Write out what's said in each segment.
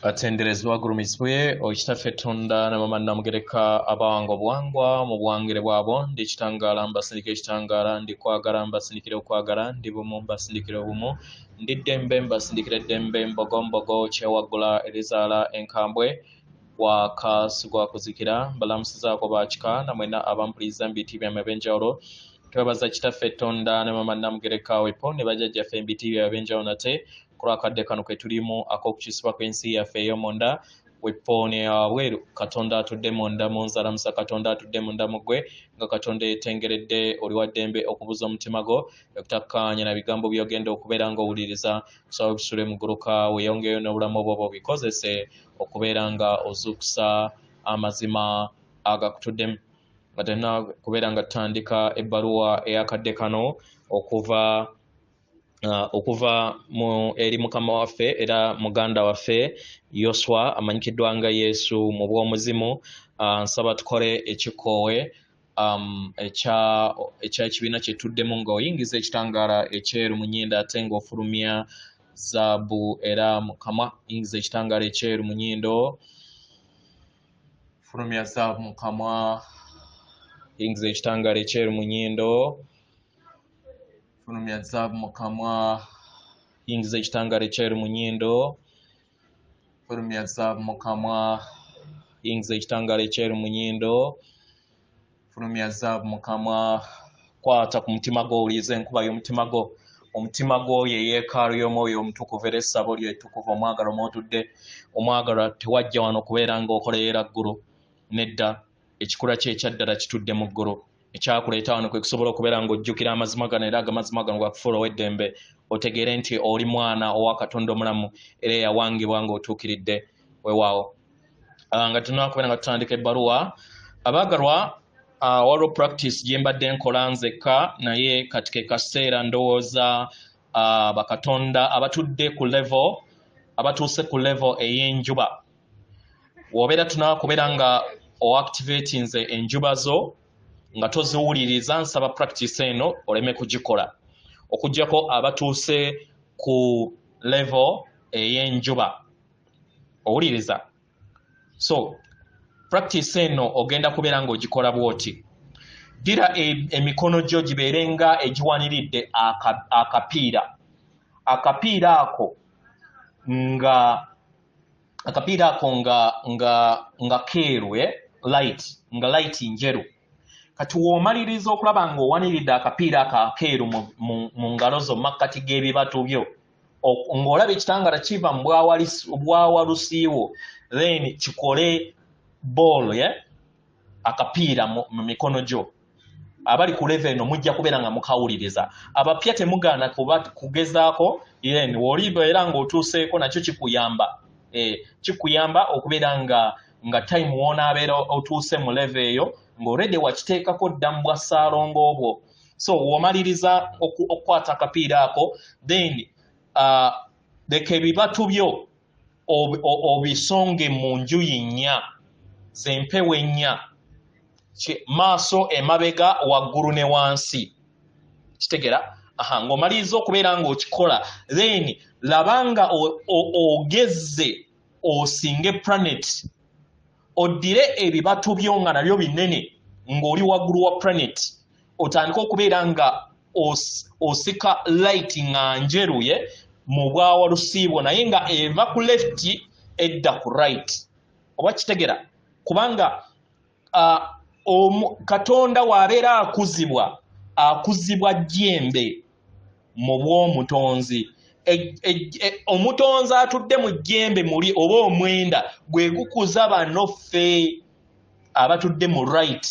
batenderezi bagulumizibwe okitaffe tonda na mama namugereka abango bwangwa mu bwangire bwabo ndi kitangaala mbasindikira ekitangaala ndi kwagala mbasindikira okwagala ndi bumu mbasindikira obumu ndi ddembe mbasindikira eddembe mbogombogo kyewaggula erizaala enkambwe wakasi gwa kuzikira mbalamusizaako bakika na mwena abampuliza mbiti byama ebyenjawulo twebaza kitaffe tonda ne mama namugereka wepo ne bajajjaffe embiti byama ebyenjawulo nate kulwakadde kano ketulimu akokukisibwa kwensi yaffe eyomunda wepooni eyawabweru katonda atudde munda munzalamusa katonda atudde munda mugwe nga katonda eyetengeredde oliwaddembe okubuza omutima gwo okutakkaanya na bigambo byogenda okubeera nga owuliriza kusaba obisule muguluka weyongeyo n'obulamu obwoba obikozese okubeera nga ozuukusa amazima agakutuddemu nga tena kubeera nga tutandika ebbaluwa eyakadde kano okuva uh, okuva mu eri mukama waffe era muganda waffe yoswa amanyikiddwa nga yesu mu bw'omuzimu uh, nsaba tukole ekikoowe um, ekyekibiina kye tuddemu nga oyingiza ekitangaala ekyeru mu nyindo ate ng'ofulumya zaabu era mukama yingiza ekitangaala ekyeru mu nyindo fulumya zaabu mukama yingiza ekitangaala ekyeru mu nyindo fulumya zaabu mu kamwa yingiza ekitangaala ekyeri mu nyindo fulumya zaabu mu kamwa yingiza ekitangaala ekyeri mu nyindo fulumya zaabu mu kamwa kwata ku mutima gwo owuliriza enkuba y'omutima gwo omutima gwoyo eyeekaalu y'omwoyo omutukuvu era essabo lyo ettukuvu omwagalo mwotudde omwagalo tewajja wano kubeera ng'okoleera ggulu nedda ekikula kye ekyaddala kitudde mu ggulu ekyakuleeta wano kwe kusobola okubeera ng'ojjukira amazima gano era agamazima gano gakufuula ow'eddembe otegeere nti oli mwana owa katonda omulamu era eyawangibwa ng'otuukiridde wewaawo ah, nga tunakubeera nga tutandika ebbaluwa abaagalwa ah, waliwo practice gye mbadde nkola nzekka naye kati ke kaseera ndowooza ah, bakatonda abatudde ku levo abatuuse ku levo ey'enjuba wobeera tunakubeera nga oactivatinze enjuba zo nga toziwuliriza nsaba practice eno oleme kugikola okugyako abatuuse ku level eyenjuba owuliriza so practice eno ogenda kubeera nga ogikola bwoti ddira e, emikono gyo gibeere nga egiwaniridde akapiira akapiira ako nga akapiira ako nga nga nga keeru e light nga light njeru kati woomaliriza okulaba ng'owaniridde akapiira ako akeeru mu ngalo zo makkati g'ebibatu byo ng'olaba ekitangala kiva mu bwawalusiiwo then kikole boolo ye akapiira mu mikono gyo abali ku leve eno mujja kubeera nga mukawuliriza abapya temugaana kuba kugezaako yen woliba era ng'otuuseeko nakyo kikuyamba eh, kikuyamba okubeera nga nga time wonaabeera otuuse mu leve eyo ng'oredi wakiteekako dda mu bwa ssaalongo obwo so womaliriza okukwata akapiira ako then uh, leka ebibatu byo obisonge mu njuyi nnya zempewo ennya maaso emabega waggulu ne wansi kitegera aha ng'omaliriza okubeera ng'okikola then laba nga ogezze osinge planet oddire ebibatu byo nga nabyo binene ng'oli waggulu wa planet otandike okubeera nga osika light nga njeruye mu bwawa lusiibwo naye nga eva ku left edda ku right oba kitegera kubanga uh, katonda waabeera akuzibwa akuzibwa jembe mu bw'omutonzi e, e, e, omutonzi atudde mu jjembe muli oba omwenda gwe gukuza bano ffe abatudde mu right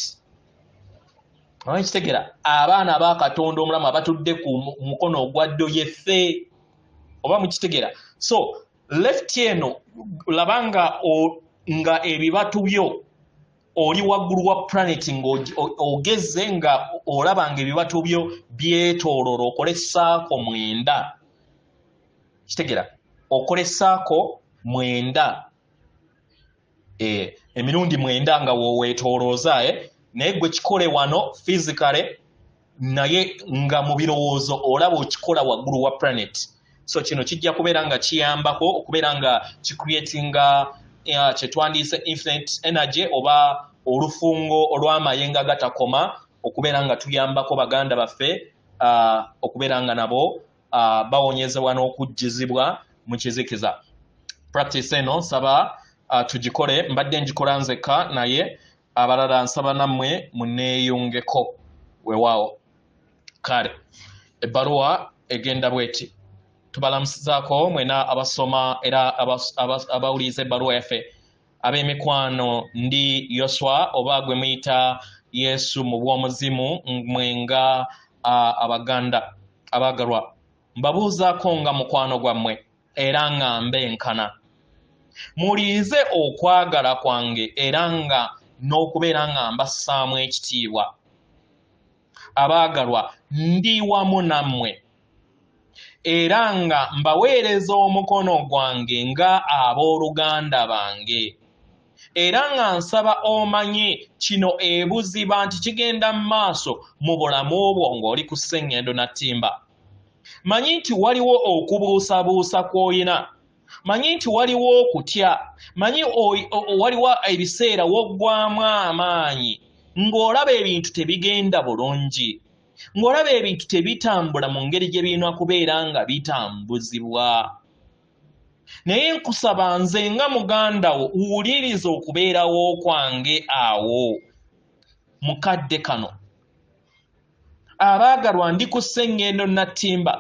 kitegera abaana abakatonda omulamu abatudde ku mukono ogwa ddo yeffe oba mukitegera so left eno laba nga nga ebibatu byo oli waggulu wa planet ng'ogeze nga olaba nga ebibatu byo byetoolora okole saako mwenda kitegera okole saako mwenda eh, emirundi mwenda nga woweetoolooza eh? naye gwe kikole wano physicale naye nga mu birowoozo olaba okikola waggulu wa planet so kino kijja kubeera nga kiyambako okubeera nga kicreatinga uh, kyetwandiise infinite energy oba olufungo olw'amayenga gatakoma okubeera nga tuyambako baganda baffe uh, okubeera nga nabo uh, bawonyezebwa n'okujjizibwa mu kizikiza practice eno nsaba uh, tugikole mbadde njikola nzekka naye abalala nsaba nammwe muneeyungeko wewaawo kale ebbaluwa egenda bweti tubalamusizaako mwena abasoma era abawuliriza ebbaluwa yaffe ab'emikwano ndi yoswa oba gwe muyita yesu mu bw'omuzimu mwenga abaganda abaagalwa mbabuuzaako nga mukwano gwammwe era nga mbenkana mulinze okwagala kwange era nga n'okubeera nga mbassaamu ekitiibwa abaagalwa ndi wamu nammwe era nga mbaweereza omukono gwange nga ab'oluganda bange era nga nsaba omanye kino ebuziba nti kigenda mu maaso mu bulamu bwo ng'oli ku ssengendo na ttimba manyi nti waliwo okubuusabuusa kw'olina manyi nti waliwo okutya manyi waliwo ebiseera woggwamu amaanyi ng'olaba ebintu tebigenda bulungi ng'olaba ebintu tebitambula mu ngeri gye birina kubeera nga bitambuzibwa naye nkusaba nze nga muganda wo wuliriza okubeerawo kwange awo mukadde kano abaagalwa ndi ku sseŋŋendo nattimba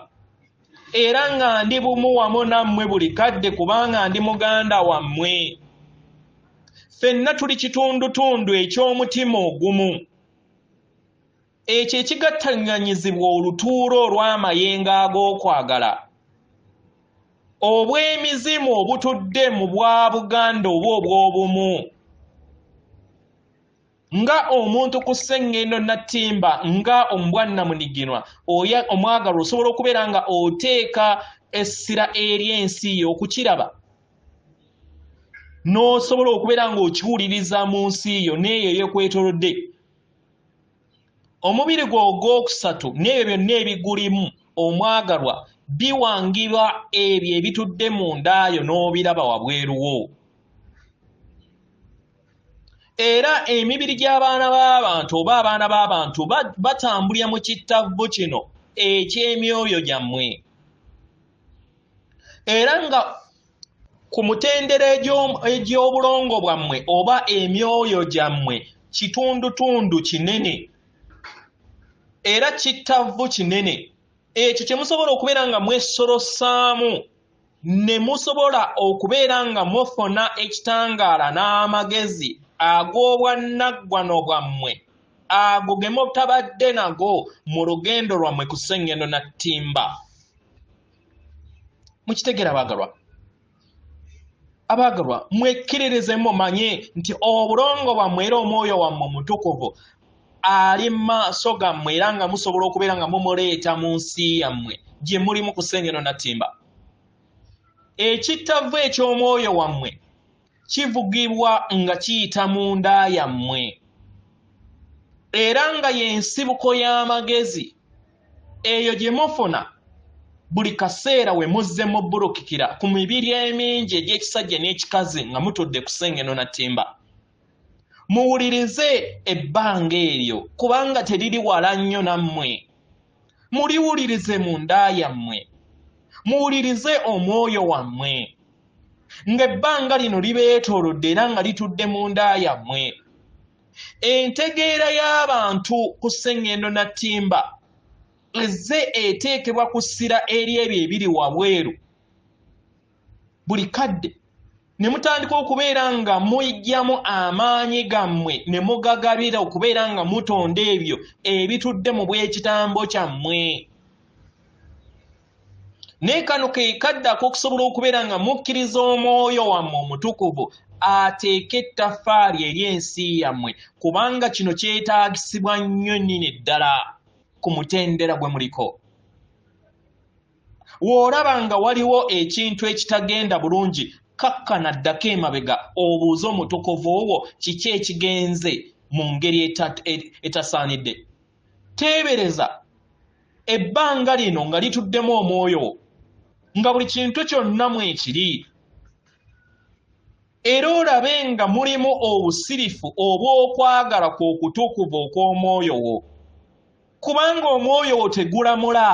era nga ndi bumu wamu nammwe buli kadde kubanga ndi muganda wammwe ffenna tuli kitundutundu eky'omutima ogumu ekyo ekigattanganyizibwa olutuula olw'amayengo ag'okwagala obw'emizimu obutudde mu bwa buganda oba obw'obumu nga omuntu ku sseŋŋendo nattimba nga omubwannamuniginwa oyo omwagalwa osobola okubeera nga oteeka essira eri ensi ye okukiraba n'osobola okubeera ng'okiwuliriza mu nsi yo n'eyo eyekwetolodde omubiri gwe ogwokusatu n'ebyo byonna ebigulimu omwagalwa biwangirwa ebyo ebitudde mu ndaayo n'obiraba wabweruwo era emibiri gy'abaana b'abantu oba abaana b'abantu batambulira mu kittavvu kino eky'emyoyo gyammwe era nga ku mutendera egy'obulongo bwammwe oba emyoyo gyammwe kitundutundu kinene era kittavvu kinene ekyo kye musobola okubeera nga mwesorosaamu ne musobola okubeera nga mufuna ekitangaala n'amagezi ag'obwannaggwano bwammwe ago ge mutabadde nago mu lugendo lwammwe ku sengendo na ttimba mukitegera abaagalwa abaagalwa mwekkiririze mumanye nti obulongo bwammwe era omwoyo wammwe omutukuvu ali mu maaso gammwe era nga musobola okubeera nga mumuleeta mu nsi yammwe gye mulimu kusengeno natimba ekittavvu eky'omwoyo wammwe kivugibwa nga kiyita mu nda yammwe era nga y'ensibuko y'amagezi eyo gye mufuna buli kaseera we muzze mubulukikira ku mibiri emingi egy'ekisajja n'ekikazi nga mutudde kusengeno na ttimba muwulirize ebbanga eryo kubanga teriri wala nnyo nammwe muliwulirize mu nda yammwe muwulirize omwoyo wammwe ng'ebbanga lino libeetoolodde era nga litudde mu nda yammwe entegeera y'abantu ku sseŋŋendo na ttimba ezze eteekebwa ku ssira eri ebyo ebiri wabweru buli kadde ne mutandika okubeera nga mujjamu amaanyi gammwe ne mugagabira okubeera nga mutonda ebyo ebitudde mu bw'ekitambo kyammwe naye kano ke kadde ak'okusobola okubeera nga mukkiriza omwoyo wammwe omutukuvu ateeke ettaffaali eri ensi yammwe kubanga kino kyetaagisibwa nnyo nnyini ddala ku mutendera gwe muliko w'olaba nga waliwo ekintu ekitagenda bulungi kakkana ddako emabega obuuze omutukuvu wo kiki ekigenze mu ngeri e-, etasaanidde teebereza ebbanga lino nga lituddemu omwoyo nga buli kintu kyonna mwekiri era olabe nga mulimu obusirifu obw'okwagala kw'okutukuvu okw'omwoyo wo kubanga omwoyo wo tegulamula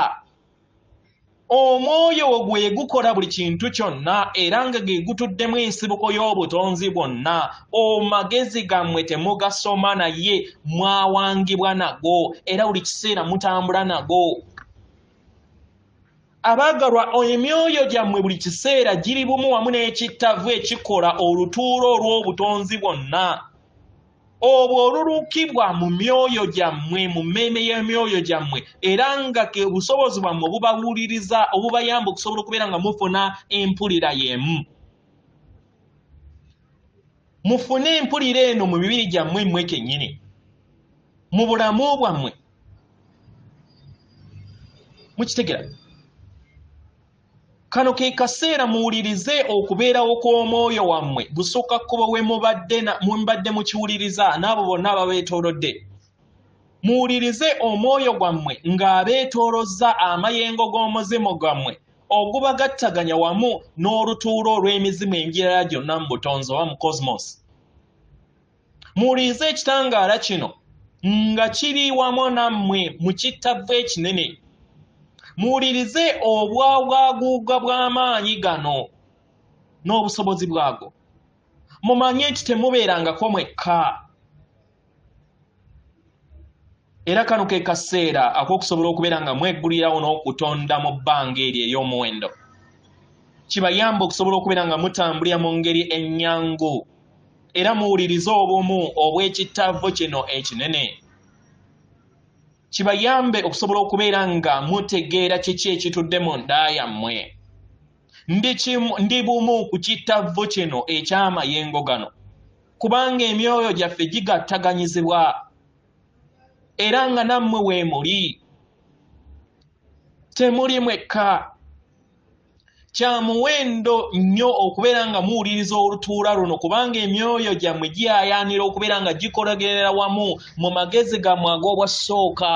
omwoyo wo gwe gukola buli kintu kyonna era nga ge gutuddemu ensibuko y'obutonzi bwonna omagezi gammwe temugasoma naye mwawangibwa nago era buli kiseera mutambula nago abaagalwa emyoyo gyammwe buli kiseera giri bumu wamu n'ekittavu ekikola olutuula olw'obutonzi bwonna obwo olulukibwa mu myoyo gyammwe mu mmeeme y'emyoyo gyammwe era nga ke busobozi bwammwe obubawuliriza obubayamba okusobola okubeera nga mufuna empulira y'emu mufune empulira eno mu mibiri gyammwe mmwe kennyini mu bulamu bwammwe mukitegera kano ke kaseera muwulirize okubeerawo kw'omwoyo wammwe gusukka kkubo we mubadde mukiwuliriza n'abo bonna ababeetoolodde muwulirize omwoyo gwammwe ng'abeetoolozza amayengo g'omuzimu gwammwe ogubagattaganya wamu n'olutuula olw'emizimu emirala gyonna mu butonzi oba mu cosmos muwulirize ekitangaala kino nga kiri wamu nammwe mu kittavvu ekinene muwulirize obwabwaguuga bw'amaanyi gano n'obusobozi bwago mumanye nti temubeerangako mwekka Era kano ke kaseera ak'okusobola okubeera nga mwegulirawo n'okutonda mu bbanga eryo ey'omuwendo. Kibayamba okusobola okubeera nga mutambulira mu ngeri ennyangu era muwulirize obumu obw'ekittavvu kino ekinene. Kibayambe okusobola okubeera nga mutegeera kiki ekitudde mu nda yammwe. Ndi bumu ku kittavvu kino eky'amayengo gano, kubanga emyoyo gyaffe gigattaganyizibwa. era nga nammwe weemuli temuli mwekka kya muwendo nnyo okubeera nga muwuliriza olutuula luno kubanga emyoyo gyammwe giyayaanira okubeera nga gikolagerera wamu mu magezi gammwe ag'obwassooka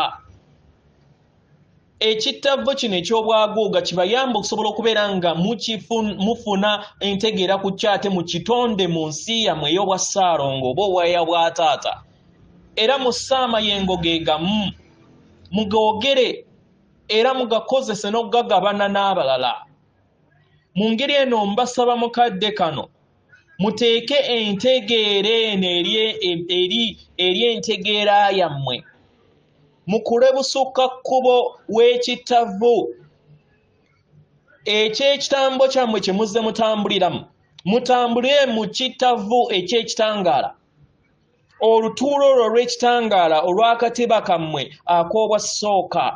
ekittavvu kino eky'obwaguuga kibayamba okusobola okubeera nga mufuna entegeera ku kyate mu kitonde mu nsi yamwe ey'obwa ssaalongo oba obwaya bwa taata era mussa amayengo ge gamu mugoogere era mugakozese n'okugagabana n'abalala mu ngeri eno mbasaba mukadde kano muteeke entegeera eno eri entegeera yammwe mukule busukka kkubo w'ekittavu eky'ekitambo kyammwe kye muzze mutambuliramu mutambule mu kittavu eky'ekitangaala olutuula olwo olw'ekitangaala olw'akatiba kammwe ak'obwasooka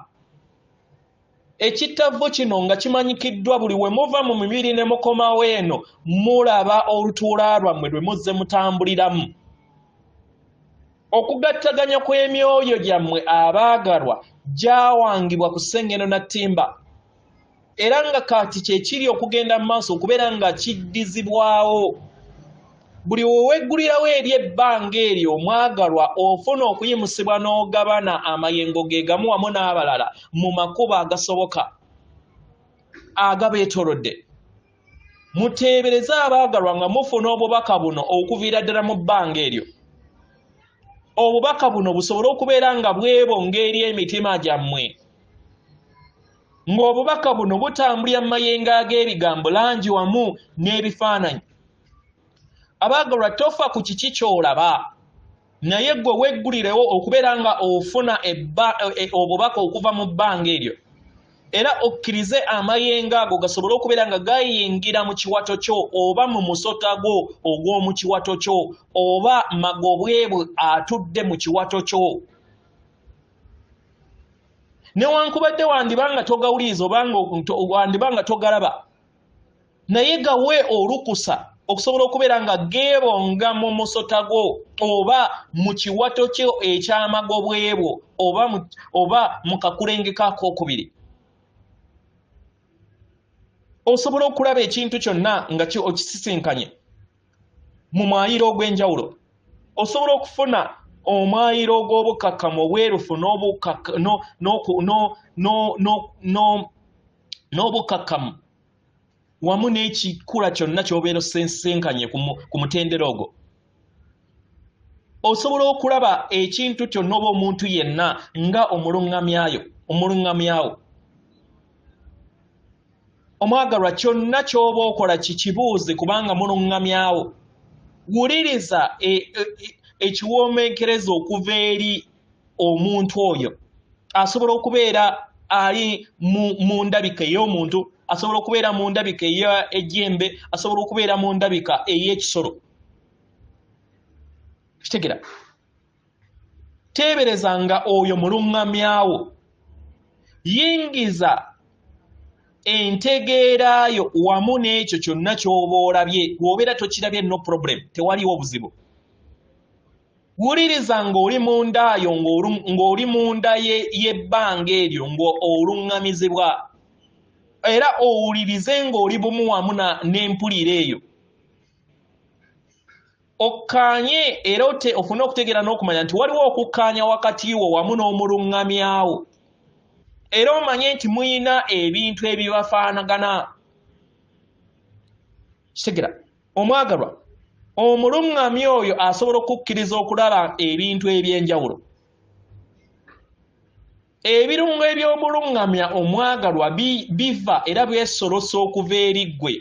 ekittavvu kino nga kimanyikiddwa buli we muva mu mibiri ne mukomawo eno mulaba olutuula lwammwe lwe muzze mutambuliramu okugattaganya kw'emyoyo gyammwe abaagalwa gyawangibwa ku sengeno na ttimba era nga kati kyekiri okugenda mu maaso okubeera nga kiddizibwawo buli oweggulirawo eri ebbanga eryo omwagalwa ofuna okuyimusibwa n'ogabana amayengo ge gamu wamu n'abalala mu makubo agasoboka agabeetorodde muteebereze abaagalwa nga mufuna obubaka buno okuviira ddala mu bbanga eryo obubaka buno busobole okubeera nga bwebo ng'eri emitima gyammwe ng'obubaka buno butambulira mu mayengo ag'ebigambo langi wamu n'ebifaananyi abaagalwa tofa ku kiki ky'olaba naye gwe weggulirewo okubeera nga ofuna e, e, obubaka okuva mu bbanga eryo era okkirize amayengo ago gasobole okubeera nga gayingira mu kiwato kyo oba mu musota gwo ogw'omu kiwato kyo oba magobwebwe atudde mu kiwato kyo newankubadde wandiba nga togawuliriza obangawandiba nga togalaba naye gawe olukusa okusobola okubeera nga geebonga mu musota gwo oba mu kiwato kyo ekyamagobwebwo oba mu kakulengekakookubiri osobola okulaba ekintu kyonna nga okisisinkanye mu mwayiro ogw'enjawulo osobola okufuna omwayiro ogw'obukakkamu obwerufu n'obukakkamu wamu n'ekikula kyonna ky'obeera osensenkanye ku mutendera ogwo osobola okulaba ekintu kyonna oba omuntu yenna nga omuluŋŋamyayo omuluŋŋamyawo omwagalwa kyonna ky'oba okola kikibuuzi kubanga muluŋŋamyawo wuliriza e, e, e, ekiwoomenkereza okuva eri omuntu oyo asobola okubeera ali mu ndabika ey'omuntu asobola okubeera mu ndabika ey'ejjembe asobola okubeera mu ndabika ey'ekisolo kitegera teebereza nga oyo muluŋŋamyawo yingiza entegeera yo wamu n'ekyo kyonna ky'oba olabye lw'obeera tokirabye no problem tewaliwo obuzibu wuliriza ng'oli mu ndaayo ng'oli mu nda y'ebbanga eryo ng'oluŋŋamizibwa era owulirize ng'oli bumu wamu n'empulira eyo okkaanye era ofune okutegeera n'okumanya nti waliwo okukkaanya wakati wo wamu n'omuluŋŋamyawo era omanye nti muyina ebintu ebibafaanagana kitegera omwagalwa omuluŋŋamyi oyo asobola okukkiriza okulaba ebintu eby'enjawulo ebirungo eby'obuluŋŋamya omwagalwa biva era byesolosa okuva eri ggwe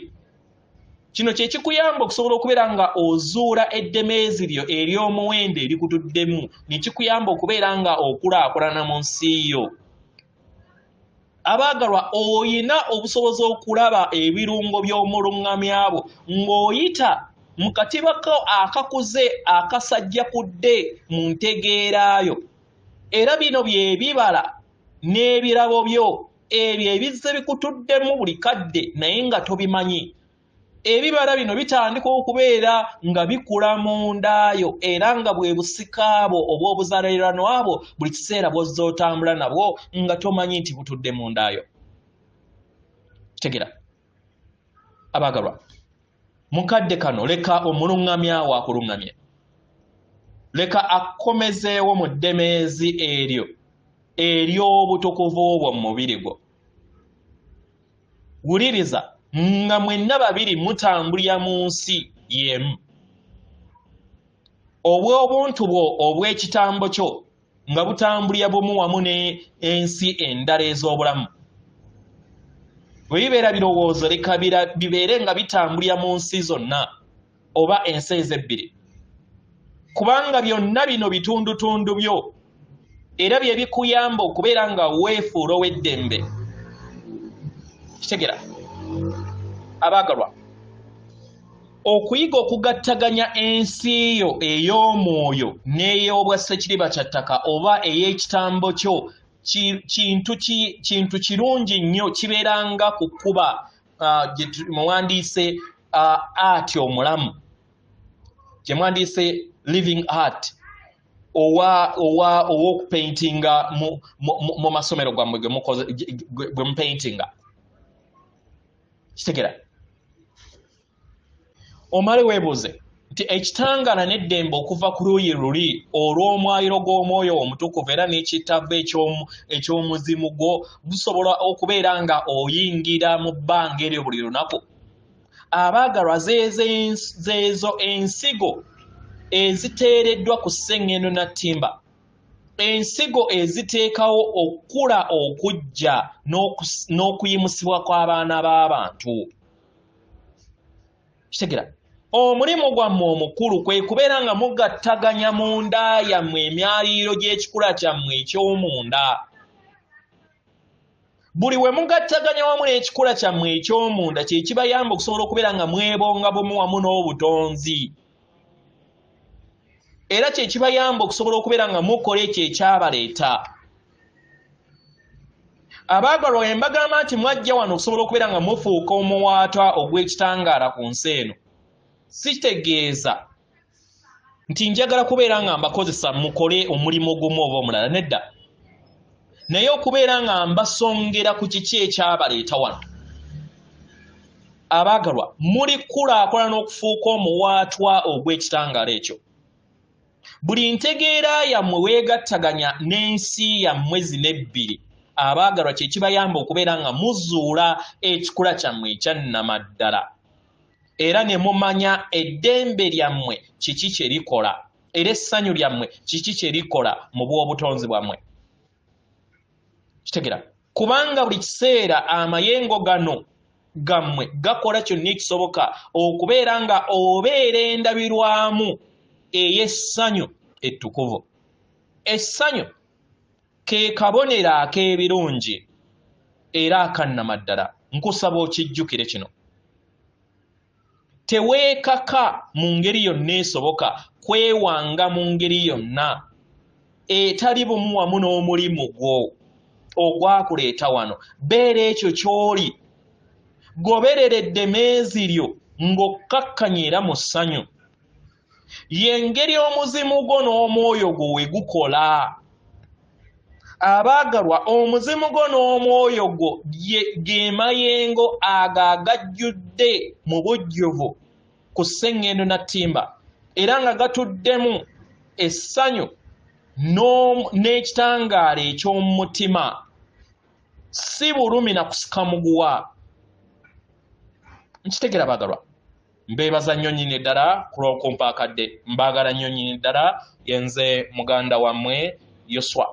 kino kye kikuyamba okusobola okubeera nga ozuula eddemeezi lyo ery'omuwendo erikutuddemu ne kikuyamba okubeera nga okulaakulana mu nsi yo abaagalwa olina obusobozi okulaba ebirungo by'omuluŋŋamya bwo ng'oyita mu katiba ko akakuze akasajja kudde mu ntegeera yo era bino bye bibala n'ebirabo byo ebyo ebizze bikutuddemu buli kadde naye nga tobimanyi ebibala bino bitandika okubeera nga bikula mu ndaayo era nga bwe busika bwo obw'obuzaalirano abo buli kiseera bwozza otambula nabwo nga tomanyi nti butudde mu ndaayo kitegera abaagalwa mukadde kano leka omuluŋŋamya waakuluŋŋamya leka akkomezeewo mu ddemeezi eryo ery'obutukuvu bwo mu mubiri gwo wuliriza nga mwenna babiri mutambulira mu nsi y'emu obw'obuntu bwo obw'ekitambo kyo nga butambulira bumu wamu n'ensi endala ez'obulamu bwe bibeera birowoozo leka bibeere nga bitambulira mu nsi zonna oba ensi ezo ebbiri kubanga byonna bino bitundutundu byo era bye bikuyamba okubeera nga weefuula ow'eddembe kitegera abaagalwa okuyiga okugattaganya ensi yo ey'omwoyo n'ey'obwa sekiriba kya ttaka oba ey'ekitambo kyo kintu kirungi nnyo kibeeranga ku kkuba mwewandiise art omulamu kyemwandiise living art owokupaintinga mu masomero gwammwe gwe mupaintinga kitegera omale weebuuze nti ekitangaala n'eddembe okuva ku luuyi luli olw'omwayiro gw'omwoyo omutukuvu era n'ekitabbo eky'omuzimu gwo gusobola okubeera nga oyingira mu bbanga eryo buli lunaku abaagalwa zeezo ensigo eziteereddwa ku sseŋŋendo na ttimba ensigo eziteekawo okukula okujja n'okuyimusibwa kw'abaana b'abantu kitegera omulimu gwammwe omukulu kwe kubeera nga mugattaganya mu nda yammwe emyaliiro gy'ekikula kyammwe eky'omunda buli we mugattaganya wamu n'ekikula kyammwe eky'omunda kye kibayamba okusobola okubeera nga mwebonga bumu wamu n'obutonzi era kye kibayamba okusobola okubeera nga mukola ekyo ekyabaleeta abaagalwa bwe mbagamba nti mwajja wano okusobola okubeera nga mufuuka omuwaatwa ogw'ekitangaala ku nsi eno sitegeeza nti njagala kubeera nga mbakozesa mukole omulimu ogumu oba omulala nedda naye okubeera nga mbasongera ku kiki ekyabaleeta wano abaagalwa mulikulaakulana okufuuka omuwaatwa ogw'ekitangaala ekyo buli ntegeera yammwe weegattaganya n'ensi yammwe zino ebbiri abaagalwa kye kibayamba okubeera nga muzuula ekikula kyammwe ekyannamaddala era ne mumanya eddembe lyammwe kiki kye likola era essanyu lyammwe kiki kye likola mu bw'obutonzi bwammwe kitegera kubanga buli kiseera amayengo gano gammwe gakola kyonna ekisoboka okubeera nga obeera endabirwamu ey'essanyu ettukuvu essanyu ke kabonero ak'ebirungi era akannamaddala nkusaba okijjukire kino teweekaka mu ngeri yonna esoboka kwewanga mu ngeri yonna etali bumu wamu n'omulimu gwo ogwakuleeta wano beera ekyo ky'oli goberera eddemeezi lyo ng'okkakkanya era mu ssanyu yengeri omuzimu gwo n'omwoyo gwo we gukola abaagalwa omuzimu gwo n'omwoyo gwo ge mayengo ago agajjudde mu bujjuvu ku sseŋŋendo na ttimba era nga gatuddemu essanyu n'ekitangaala eky'omu mutima si bulumi na kusikamuguwa nkitegera baagalwa mbeebaza nnyo nyini ddala kulwokumpa akadde mbaagala nnyo nyini ddala yenze muganda wammwe yoswa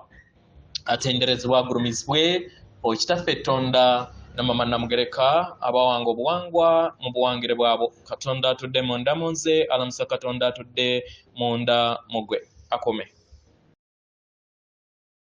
atenderezebwa agulumizibwe okitaffe ettonda namama namugereka abawanga obuwangwa mu buwangire bwabo katonda atudde munda mu nze alamusa katonda atudde munda mugwe akume